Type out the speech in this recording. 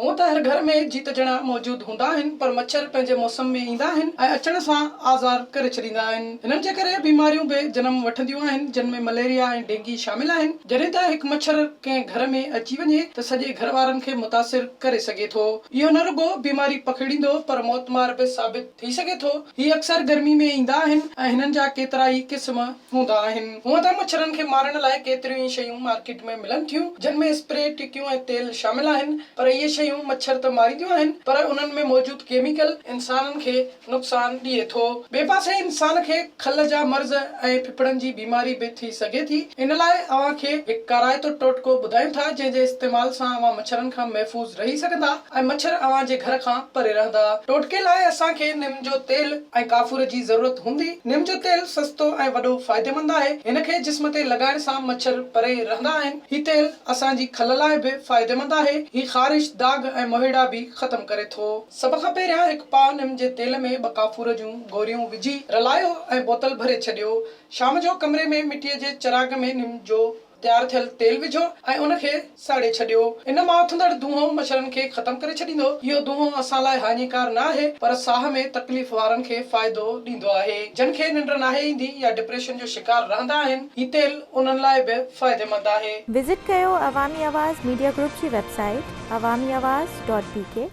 هونء ته هر گهر ۾ جيتجڻا موجود هوندا آهن پر مڇر پنهنجي موسم ۾ ايندا آهن ۽ اچڻ سان آزار ڪري ڇڏيندا آهن. هنن جي ڪري بيماريون به جنم وٺنديون آهن جن ۾ مليريا ۽ ڊينگي شامل آهن. جڏهن ته هڪ مڇر ڪنهن گهر ۾ اچي وڃي ته سڄي گهر وارن کي متاثر ڪري سگهي ٿو. اهو نه رڳو بيماري پکيڙيندو پر موتمار به ثابت ٿي سگهي ٿو. هي اڪثر گرمي ۾ ايندا آهن ۽ هنن جا ڪيترائي قسم هوندا آهن. هونء ته مڇرن کي مارڻ لاء ڪيتريون ئي شيون مارڪيٽ ۾ ملن ٿيون، جن ۾ اسپري، ٽڪيون ۽ تيل شامل آهن، پر اهي شيون مڇر ته مارينديون آهن، پر انهن ۾ موجود ڪيميڪل انسانن کي نقصان ڏئي ٿو. ٻئي پاسي انسان کي کل جا مرض ۽ ڦڦڙن جي بيماري به ٿي سگهي ٿي. ان لاء اوهان کي هڪ ڪارائتو ٽوٽڪو ٻڌايون ٿا، جنهن جي استعمال سان اوهان مڇرن کان محفوظ رهي سگهندا. ۽ مڇر اوهان جي گهر کان پري رهندا. ٽوٽڪي لاء اسان کي نم جو تيل ۽ ڪافور جي ضرورت هوندي. نم جو تيل سستو ۽ وڏو فائديمند آهي. هن کي جسم تي لڳائڻ سان مڇر پري رهندا آهن. هي تيل اسان جي کل لاء به فائديمند آهي. هي خارش، داغ ۽ مهيڙا به ختم ڪري ٿو. سڀ کان پهريان هڪ پاء نم جي تيل ۾ ٻه ڪافور جون گوريون وجهي رلايو ۽ بوتل ڀري ڇڏيو. شام جو ڪمري ۾ مٽيء جي چراغ ۾ نم جو تيار ٿيل تيل وجهو ۽ ان کي ساڙي ڇڏيو. ان مان اٿندڙ دونهون مڇرن کي ختم ڪري ڇڏيندو. اهو دونهون اسان لاء هاڃيڪار نه آهي پر ساهه ۾ تڪليف وارن کي فائدو ڏيندو آهي. جن کي ننڊ ناهي ايندي يا ڊپريشن جو شڪار رهندا آهن، هي تيل انهن لاء به فائديمند آهي. وزٽ ڪيو عوامي آواز ميڊيا گروپ جي website Awami Awaz dot بي ڪي.